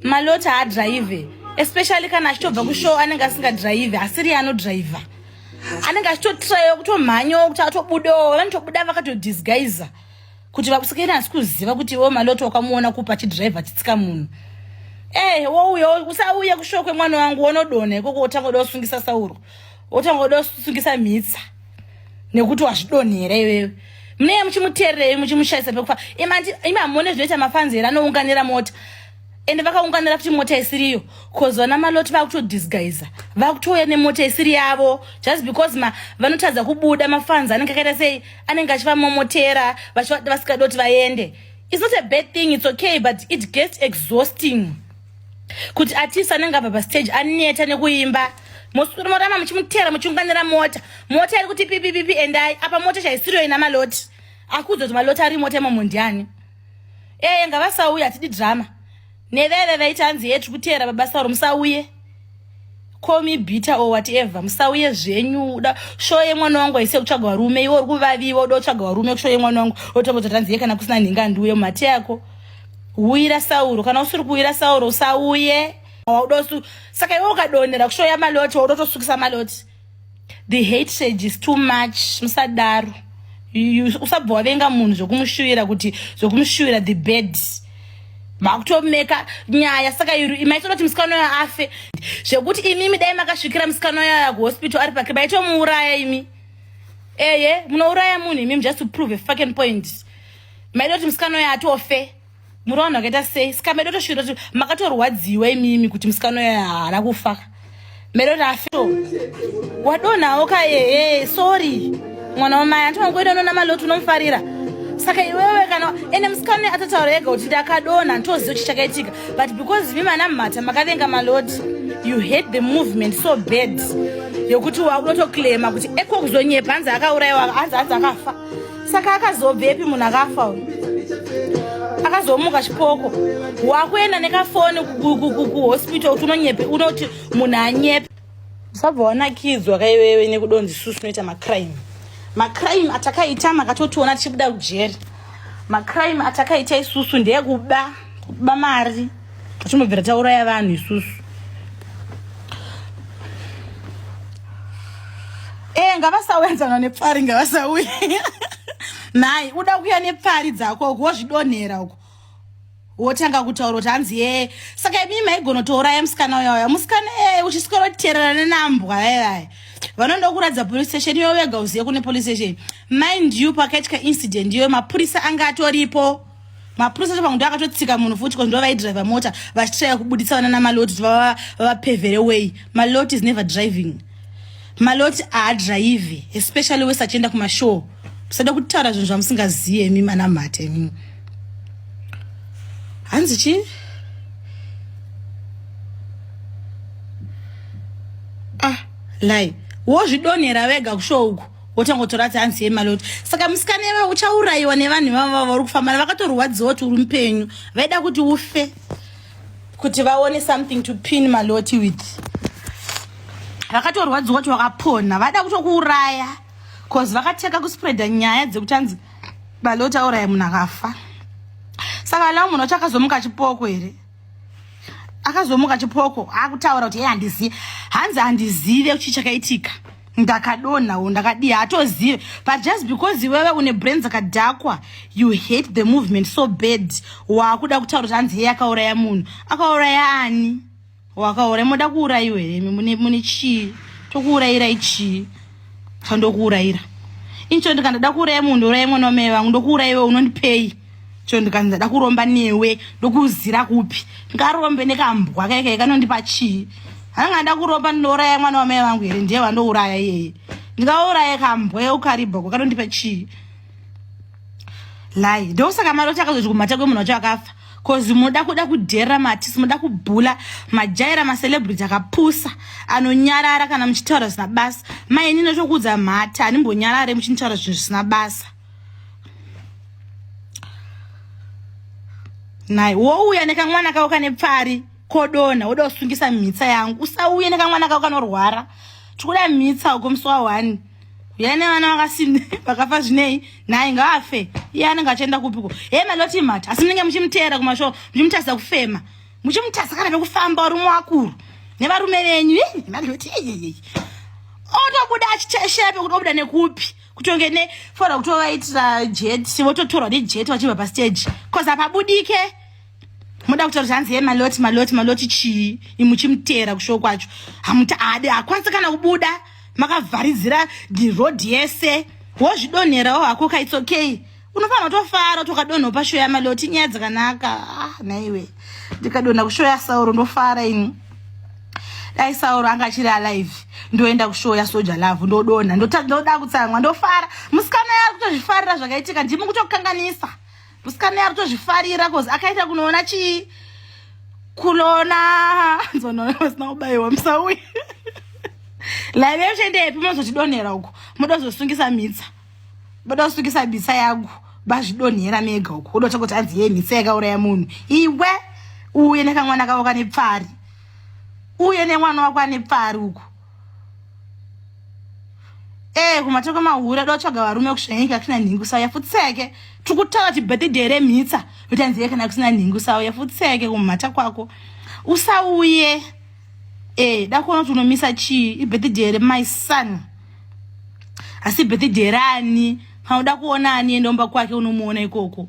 maloti haadrive especially kana achitobva kushow anenge asingadrive asiriye anodriver anenge achitotrayiwa kutomhanyawo kuti atobudawo vanotobuda vakatodisguiza kuti vakusikeni asi kuziva kuti wo maloti wakamuona kupa chidrive achitsika munhu ee eh, wouya usauya kushow kwemwana wangu wonodona ikoko wotangoda usungisa sauro wotangoda usungisa mhitsa nekuti wazvidonhera iwewe munee muchimuteererei muchimushaisa pekufa imi hamone zvinoita mafanzi here anounganira mota ende vakaunganira kuti mota isiriyo bcause vana maloti vakutodisguisa vakutouya nemota isiri yavo just because ma vanotadza kubuda mafanzi anenge akaita sei anenge achivamomotera vachivada vasikadi kuti vaende its not a bad thing its okay but it gets exhausting kuti atisi anenge abva pastage aneta nekuimba muswiri morama muchimutera muchiunganira mota mota iri kuti pipipipi endai apa mota chaisiriyo ina maloti akuudza kuti maloti ari mota imomo ndiani ee ngavasauye hatidi drama neveve vaiti hanzi yetri kuteera babasauro musauye komi bita or whatever musauye zvenyu uda sho yemwana wangu aise kutsvaga varume iwe uri kuvaviwa uda kutsvaga varume kusho yemwana wangu otombozoti hanzi ye kana kusina nhinga ndiuye mumate yako huyira sauro kana usiri kuuyira sauro usauye waudosu saka iwe ukadonhera kushoya maloti waudotosukisa maloti the hate sage is too much musadaro usabva wavenga munhu zvokumushuvira kuti zvokumushuvira the bed makutomeka nyaya saka iri maitoda kuti musikana uyo afe zvekuti imimi dai makasvikira musikana uyo aya kuhospital ari pake maitomuuraya imi eye munouraya munhu imimi just to prove a fucking point maida kuti musikana uyo atofe muri vanhu vakaita sei ska medo tosvira kuti makatorwadziwa imimi kuti musikana uya haana kufa medo rafio wadonhawo ka ehe sorry mwana wamai hanti wangoenda unona maloti unomufarira saka iwewe kana ende musikana uya atataura ega kuti ndakadonha ntoziva kuti chakaitika but because imi mana mhata makavenga maloti you hate the movement so bad yokuti wakunotoclaima kuti eko kuzonyepa hanzi akaurayiwa hanzi hanzi akafa saka akazobvepi munhu akafa uyu akazomuka chipoko wakuenda nekafoni kuhospital kuti unonyepe unoti munhu anyepe usabva wanakidzwa kaiwewe nekudonzi susu unoita macrime macrime atakaita makatotiona tichibuda kujeri macrime atakaita isusu ndeyekuba kuba mari Timbobvira tauraya vanhu isusu. Eh, ngavasauyadzana nepfari ngavasauye. Nhai, uda kuya nepfari dzako uko wozvidonhera uko. Wotanga kutaura kuti hanzi ye. Saka imi maigona touraya musikana uya uya. Musikana eh uchiswera kuterera nenambwa yaya. Vanoda kuradza police station iyo wega uziye kune police station. Mind you pakaitika incident iyo mapurisa anga atoripo. mapurisa chapangu ndo akatotsika munhu futi ko ndovaidraivha mota vachitraya kubuditsa vana namaloti kuti vavapevhere way maloti is never driving maloti haadraivhi especially wese achienda kumashow musada kutaura zvinhu zvamusingazive mi mana mhate mi hanzi chii ah lai wozvidonhera vega kusho uku wotangotora ti hanzi yemaloti saka musikana iva uchaurayiwa nevanhu ivavo vavo vari kufamba vakatorwadziwa kuti uri mupenyu vaida kuti ufe kuti vaone something to pin maloti with vakatorwadziwa kuti wakapona vaida kutokuuraya bcause vakateka kuspreada nyaya dzekuti hanzi maloti auraya munhu akafa saka lao munhu wacho akazomuka chipoko here akazomuka chipoko akutaura kuti yeye handizive hanzi handizive chii chakaitika ndakadonha wo ndakadii hatozive but just because iwewe une brain dzakadhakwa you hate the movement so bad waakuda kutaura kuti hanzi yeye akauraya munhu akauraya ani wakauraya moda kuurayiwa here imi mune chii tokuurayirai chii sandokuurayira incho ndikandada kuuraya munhu uraya mwana wamai vangu ndokuurayiwe unondipei cho ndikanzi ndada kuromba newe ndokuzira kupi ngarombe nekambwa kaikaye kanondipa chii hanga nda kuromba ndinouraya mwana wamai vangu here ndiye vandouraya iyeye ndikauraya kambwa yeukaribhoko kanondipa chii lai ndokusaka mari chakazoti kumhata kwemunhu wacho akafa bcoz munoda kuda kudhera matisi munoda kubhula majaira macelebrity akapusa anonyarara kana muchitaura zvisina basa maini notokuudza mhata handimbonyarare muchinitaura zvinhu zvisina basa nhai wouya nekamwana kako kane pfari kodonha woda kusungisa mhitsa yangu usauye nekamwana kako kanorwara tikuda mhitsa uko musi wahwani uya nevana vakasine vakafa zvinei nhai ngaafe iye anenge achienda kupiko he maloti mhata asi munenge muchimuteera kumashow muchimutarisa kufema muchimutarisa kana vekufamba uri muakuru nevarume venyu maloti otobuda achiteshepe kuti obuda nekupi kutonge ne fora kutovaitira jet vototorwa nejet vachibva pastage bcause hapabudike moda kutaura zvanzi ye maloti maloti maloti chii imuchimutera kushowo kwacho hamuade hakwanisi kana kubuda makavharidzira road yese wozvidonherawo hako ka its okay unofanirwa tofara tokadonho pashow yamaloti nyaya dzakanaka ah, naiwe ndikadonha kushow yasauro ndofara ini dai sauro anga achiri alive ndoenda kushow yasoja love ndodonha ndoda kutsamwa ndofara musikana yari kutozvifarira zvakaitika ndimi kutokanganisa musikana yari kutozvifarira bcause akaita kunoona chii kulona nzonoona pasina kubayiwa musauya laive uchaendepi mozotidonhera uko moda kuzosungisa mhitsa voda kusukisa mhitsa yangu vazvidonhera mega uko voda kutanga kuti hanzi yee mhitsa yakauraya munhu iwe uye nekamwana kavo kane pfari uye nemwana wako ane pfari uko ee eh, kumatoko mahure dotsvaga varume kusvanyika kusina nhingu sawo yafutseke tiri kutaura ti birthday remhitsa utanziye kana kusina nhingu sawo yafutseke kumhata kwako usauye eh dakuona kuti unomisa chii ibirthday here my son asi birthday here ani panoda kuona ani enda umba kwake unomuona ikoko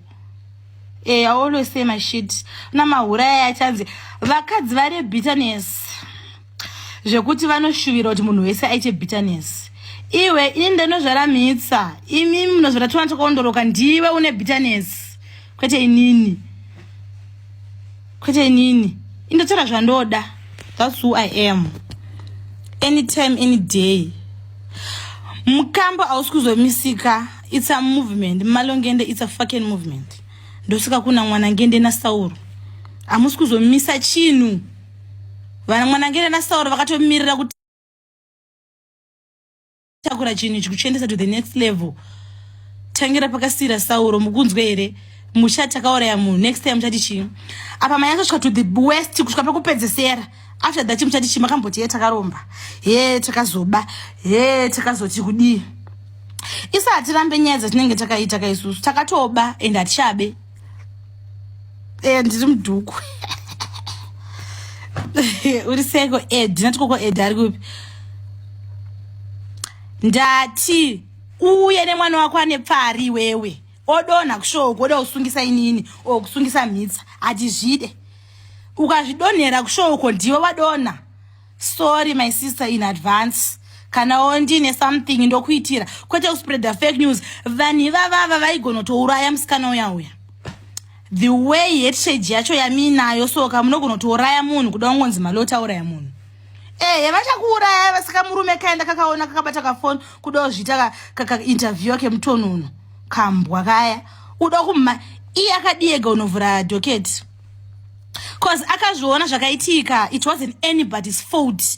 eh always say my shit na mahura aya achanzi vakadzi vari bitterness zvekuti vanoshuvira kuti munhu wese aite bitterness iwe ini ndinozvara mitsa imi munozvara twana takaondoroka ndiwe une bitterness kwete inini kwete inini indotora zvandoda thats who i am anytime any day mukambo hausi kuzomisika it's a movement malongende it's a fucking movement ndosika kuna mwana ngende nasauro hamusi kuzomisa chinhu vana mwana ngende nasauro vakatomirira kuti takura chinhu ichi kuchiendesa to the next level tangira pakasira sauro mukunzwe here musha takauraya munhu next time muchati chii apa maya akasvika to the west kusvika pekupedzesera after that muchati chii makamboti ye takaromba he takazoba he takazoti kudii isa hatirambe nyaya dzatinenge takaita ka isusu takatoba and hatichabe eh, ndiri mudhuku uri seko ed nati koko ed ari kupi ndati uye nemwana wako ane pfari iwewe odonha kushowo kuoda kusungisa inini o kusungisa mhitsa hatizvide ukazvidonhera kushowoko ndiwe wadonha sorry my sister in advance kana wo ndine something ndokuitira kwete kuspreada fake news vanhu ivavava vaigonotouraya musikana uya uya the way hetshage yacho yamiinayo soka munogonotouraya munhu kuda kungonzi maloti auraya munhu ehe vachakuuraya vasika murume kaenda kakaona kakabata kafoni kuda kuzviita kainterview kemutonono kambwa kaya uda kuma iye akadiyega unovhura doketi cause akazviona zvakaitika it wasn't anybody's fault